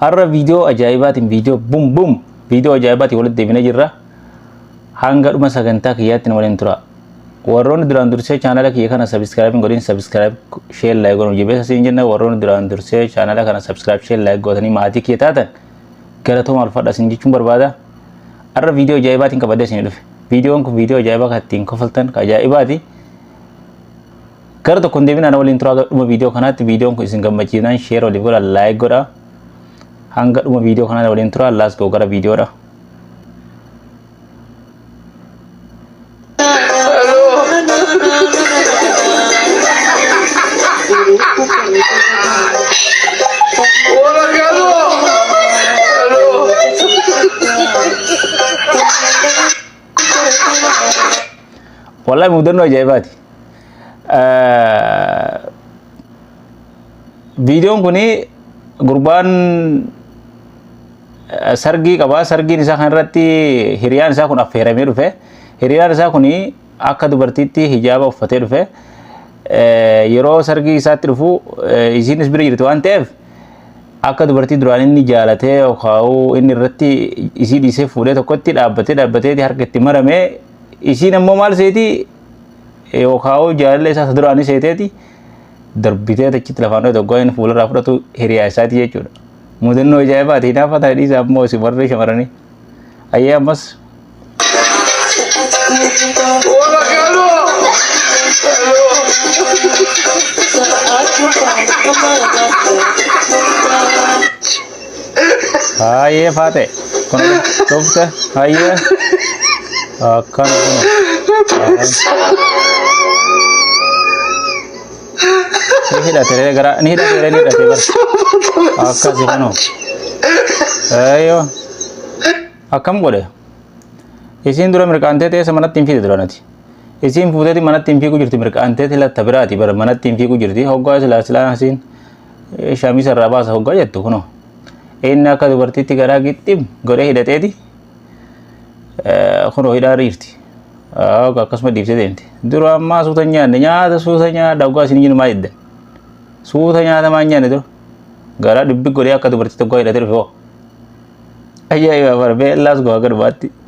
Har'a viidiyoo ajaa'ibaatiin viidiyoo bum bum viidiyoo ajaa'ibaatiin walitti deebinee jirra. Hanga dhuma sagantaa kiyyaatti nu waliin tura. Warroonni duraan dursee chaanala kiyya kana sabiskiraayib hin godhin sabiskiraayib sheer laayik godhan jabeessa siin jenna warroonni duraan dursee chaanala kana sabiskiraayib sheer laayik godhanii maatii kiyya taatan galatooma ulfaadha siin jechuun barbaada. Har'a viidiyoo ajaa'ibaatiin qabadee siin dhufe. Viidiyoon kun viidiyoo ajaa'ibaa kan ittiin kofaltan kan ajaa'ibaati. Gara tokko hin deebinaa na waliin turaa gara dhuma viidiyoo kanaatti viidiyoon kun isin gammachiisnaan sheer waliif godha laayik godha. Hanga dhuma viidiyoo kanaa na waliin turaa laas goo gara viidiyoodha. Wallahi mudannoo ajaa'ibaati. viidiyoon kun gurbaan sargii qaba sargiin isaa kan irratti hiriyaan isaa kun affeeramee dhufe hiriyaan isaa kun akka dubartiitti hijaaba uffatee dhufe yeroo sargii isaatti dhufu isiinis bira jirti waan ta'eef akka dubartii duraan inni jaalatee yookaan inni irratti isii dhiisee fuudhee tokkotti dhaabbatee dhaabbatee harka itti maramee isiin ammoo maal seeti yookaan jaalala isaa isa duraanii seeteeti darbitee achitti lafaan dhoote oggaa inni fuularraa fudhatu hiriyaa isaati jechuudha. Mudannoo ajaa'ibaati hinaafa ta'e dhiisa ammoo isin warri shamaranii. Ayyee ammas Thank you. Haayee faaxee kun dhufte hayyee akkan kun si hidhatere gara ni hidhatere ni hidhate bar akkasi kuno ayyo akkam godhe isiin dura mirqaantee teessa manatti hin fiide duranati isiin fuuteeti manatti hin fiiguu jirti mirqaanteeti latta biraati bara manatti hin fiiguu jirti hoggaa silaa silaa isiin shamisa irraa baasa hoggaa jettu kunoo inni akka dubartiitti garaa gixxim godhee hidhateeti kunoo hidhaa riifti akkasuma dhiibsee deemti dura ammaa suuta nyaanne nyaata suuta nyaadha hoggaa isin jiru maa jedda suuta nyaata maa nyaanne dura garaa dubbi godhee akka dubartiitti hoggaa hidhatee dhufe hoo ajaa'ibaa bara beellaas gowaa gadhumaatti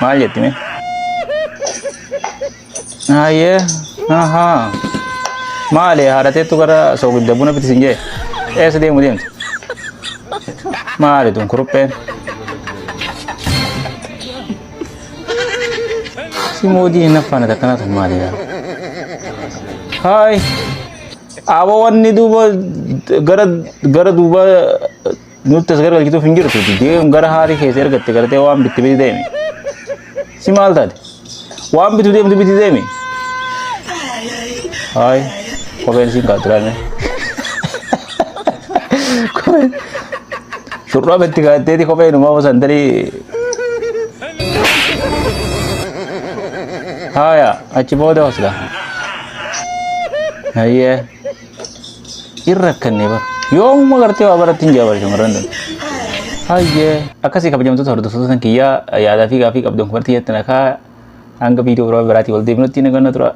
Maal jetti mee? Hayyee. Ahaa. Maali haadha teettu gara soogidda buna bitti sin jee? Eessa deemu deemtu? Maali tun kurupheen? Si moodii hin naffaana takkanaa tun maali yaa? Haay. Aboo wanni duuba gara gara duuba Nutti as gargalchituuf hin jirtu. Deem gara haati keessa ergatte gartee waan bitti biti deemi. Si maal taate? Waan bitu deemtu biti deemi. Haay kopheen siin kaatu laame. Kopheen shurraa bitti kaatteeti kopheen umaa osoo hin tarii. Haaya achi booda hoslaa. Hayyee. hin rakkanne bara yoomuma gartee waa barattiin jaa bara shamarran dha hayyee akkasii kabajamtoota hordoftoota kan kiyyaa yaadaa fi gaafii qabdan kumartii jettan akaa hanga viidiyoo biraa biraatii wal deebinutti naganna tura